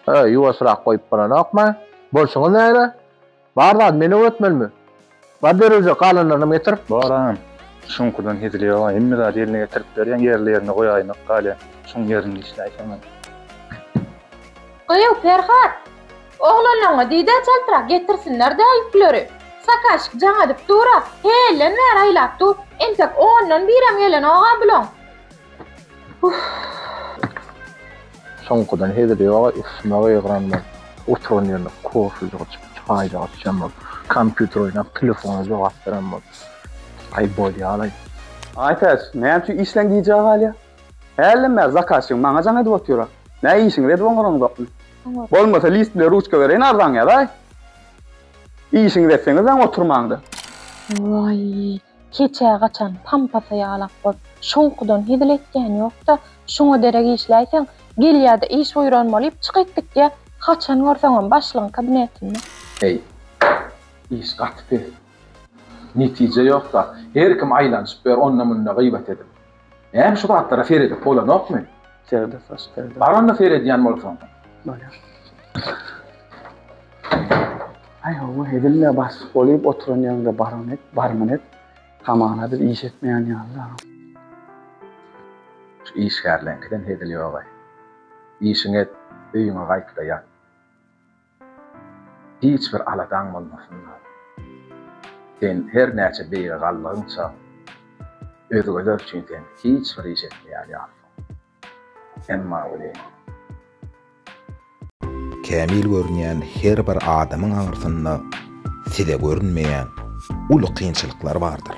Öý, ýuwaşyrak goýup bolanokmy? Bolşuňyz näme? Bar zady men öwretmelimi? Bar derwije, galanlarynam getir. Baram. Şuňkurdan hezil ýog-a. Hemme zady ýerine getirip berýän, ýerli-ýerine goýaýmak galýa. Şuň ýerini işläýseň-ä. Gyýw, Perhat! Oglanyňy diý-de çaltrak getirsinler-dä ýükleri. Sakaşik jaň edip dur-a, hälden bäri aýlap dur, entek ondan birem gelenok-a bulaň. Uff. Soňkudan hezil ýog-a, üstüme gygyran bolup, oturan ýerinde kofejik içip, çaýjyk içen bolup, kompýuter oýnap, telefona jogap beren bolup. Aý, bolýa-laý. Aýtäç, näme üçin işleň gijä galýa? Hälden bäri zakazçygym maňa jaň edip otyra. Näý işiňizi edip oňaryňyzokmy? Bolmasa list bilen ruçka bereýin arzaňy ýazaý. Işiňizi etseňizläň oturmaň-da. Waý, keçä gaçan pampasa ýalak bol. Şoňkudan hezil etýän ýok-da, şuňa derek işläýseň, gelýä-de iş buýran bolýup çykyp gitýä, haçan görseňem başlygyň kabinetinde. Heý, iş gaty pes. Netije ýok-da, her kim aýlanyşyp ýör onda-munda gyýbat edip. Näme şu zatlara seredip bolanokmy? Serde saç serde. Baranda seredýän bolsaň. Bolýar. Aý hawa edilme bas bolup oturan ýerde baran et, barmyn et. Hamana biz iş etmeýän ýaly. Şu işgärleňkiden hezil ýogaý. Işiňi et, öýüňe gaýt-da ýat. Hiç bir aladaň bolmasynda, sen her näçe beýige galdygyňça, özgeler üçin sen hiç bir iş etmeýär ýalysyň. Emma welin. Kämil görünýän her bir adamyň aňyrsynda size görünmeýän uly kynçylyklar bardyr.